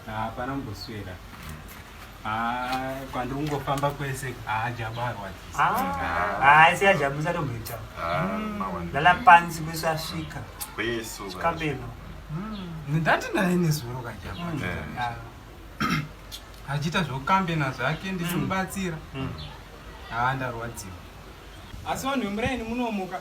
hapana kumboswera ah, kwandiri kungofamba kwese ajabu arwadzisa asi ajabu usatomboita lala pansi kwesu asvika kabeno ndati naye nezuro kajabu achiita zvokukambena zvake ndichimubatsira haa ndarwadziwa asi vanhu vemuraini munomuka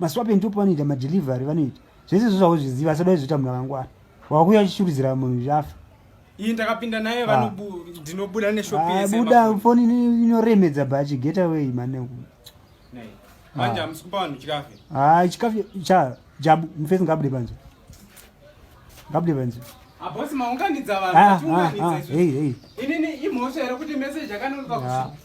maswape ndipo panoita madelivery vanoita zvese izvo zvauzviziva asada izvoita munhu akangwana wakuya achishuridzira munhu zvafa iyi ndakapinda naye ah. ndinobuda neshopibuda ah, foni inoremedza bhachi get away mane manje ah. hamusi kupa vanhu chikafe ha chikafe cha jabu mufesi ngabude panze ngabude panze abosi maunganidza vanhuinini imhosva here kuti message akanonoka kusi